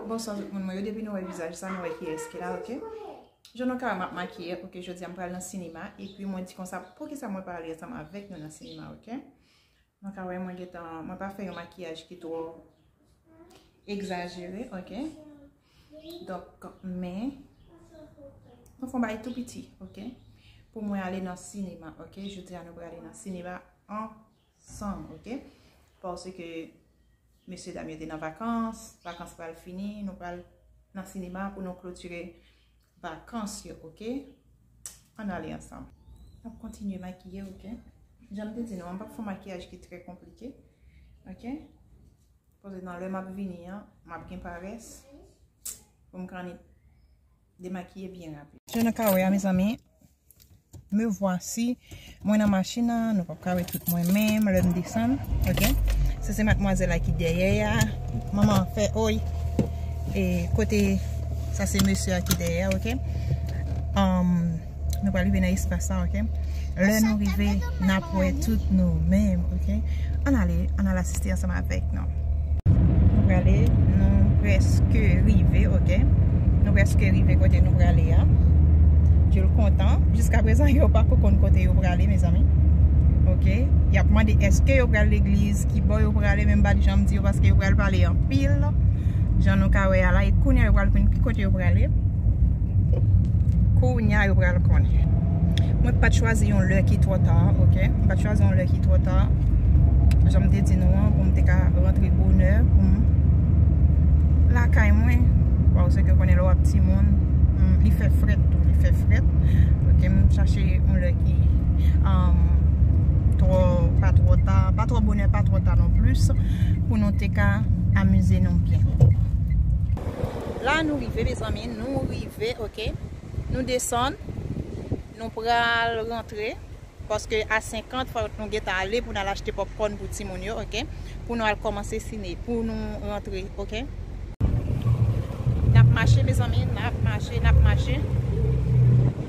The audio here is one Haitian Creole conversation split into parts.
Bonswa tout moun mwen yo depi nou wè vizaj sa nou wè kiyès ki la ok Jan nou ka wè m ap makiye ok jodi a m pral nan sinema epi mwen di konsa poukisa mwen pa ale ansanm avèk nou nan sinema ok Nou ka wè mwen gentan mwen pa fè yon makiyaj ki twò egzajere ok Donk men Mwen fon bagay tou piti ok Pou mwen ale nan sinema ok jodi a nou pral ale nan sinema an San ok Parce que Mesye dam yo te nan vakans Vakans pral fini Nou pral nan sinema pou nou klotire vakans yo ok Ann ale ansanm M ap kontinye makiye ok Jan m te di nou m pap fè yon makiyaj ki trè konplike ok Koz nan lè m ap vini an M ap gen parès Pou m kanni Demakiye byen rapid. Jan nou ka wè a mezanmi. Me vwasi. Mwen nan machin nan. Nou pap ka wè tout mwen menm. Lè m desann. Ok. Sa se matmwazèl la ki dèyè a. Manman an fè oy. E kote. Sa se mesye a ki dèyè a. Ok. Am. Nou pral rive nan espas la ok Lè nou rive N ap wè tout nou menm ok Ann ale Ann al asiste ansanm avèk nou Nou prale Nou prèske rive ok Nou prèske rive kote nou prale a Djou l kontan Jiska prezan yo pa ko konn kote yo prale mezanmi Ok Y ap mande èske yo pral legliz Ki bò yo prale men m pa janm di yo paske yo pral pale anpil Jan nou ka wè a la E kounye a yo pral konn ki kote yo prale Kounya yo pral konnen. Mwen pat chwazi yon lè ki twò ta ok. Mwen pat chwazi yon lè ki twò ta. Jan m te di nou an pou m te ka rantre bonè pou m lakay mwen. Waw se ke konnen lè w ap timoun li fè frèt tou. Li fè frèt. Ok m chache yon lè ki twò pa twò ta. Pa twò bonè pa twò ta non plis. Pou nou te ka amize nou byen. La nou rive mezanmi. Nou rive ok Nou desann Nou pral rantre Paske a 50 fòk nou gentan ale Pou nou al achte popcorn pou timoun yo ok Pou nou al kòmanse sine Pou nou rantre ok Nap mache mezanmi Nap mache nap mache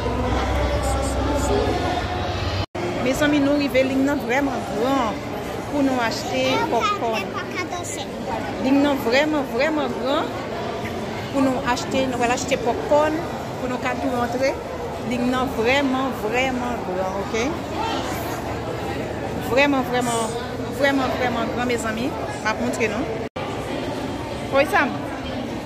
Pou moun kap fè egzèsis peze li. Mezanmi nou rive ling nan vreman gran pou nou achte popcorn ling nan vreman vreman gran pou nou achte nou pral achte popcorn pou nou ka tou rantre ling nan vreman vreman gran ok vreman vreman vreman vreman gran mezanmi map montre nou. Oysam.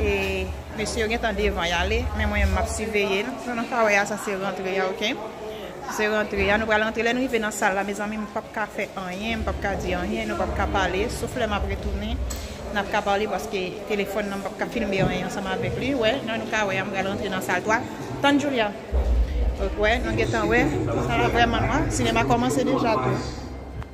E mesye yo gentan devan yale men mwen map siveye nou sa nou ka wè a sa se rantre ya ok sa se rantre ya nou pral rantre lè nou rive nan sal la mezanmi m pap ka fè anyen m pap ka di anyen nou pap ka pale sof lè map retounen nap ka pale paske telefòn nan m pap ka filme anyen ansanm avèk li wè jan nou ka wè a m pral rantre nan sal 3 tann Julia ok wè nou gentan wè sal la vrèman nwa sinema kòmanse deja tou.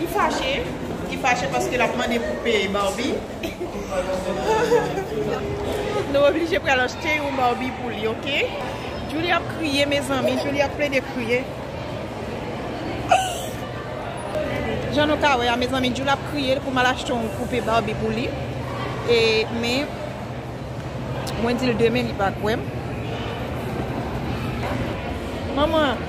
Li fache, li fache paske lap mande pou peye Barbie. Nou oblije pral achte yon Barbie pou li ok. Djoulie ap kriye mezanmi, Djoulie ap plede kriye. Jan nou ka wè a mezanmi Djoulie ap kriye li pou mal achte yon poupe Barbie pou li. E men mwen dil demen li pa kwèm. Manman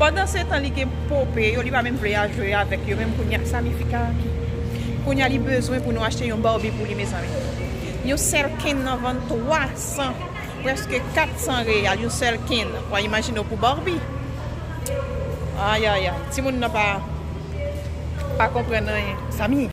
Pandan se tan li gen pope yo li pa menm vle a jwe avèk yo menm kounya sa mifika a ki kounya li bezwen pou nou achte yon barbie pou li mezanmi yon sèl ken nan vann 300 prèske 400 real yon sèl ken wa imajine w pou barbie ayayay timoun nan pa pa konprann anyen.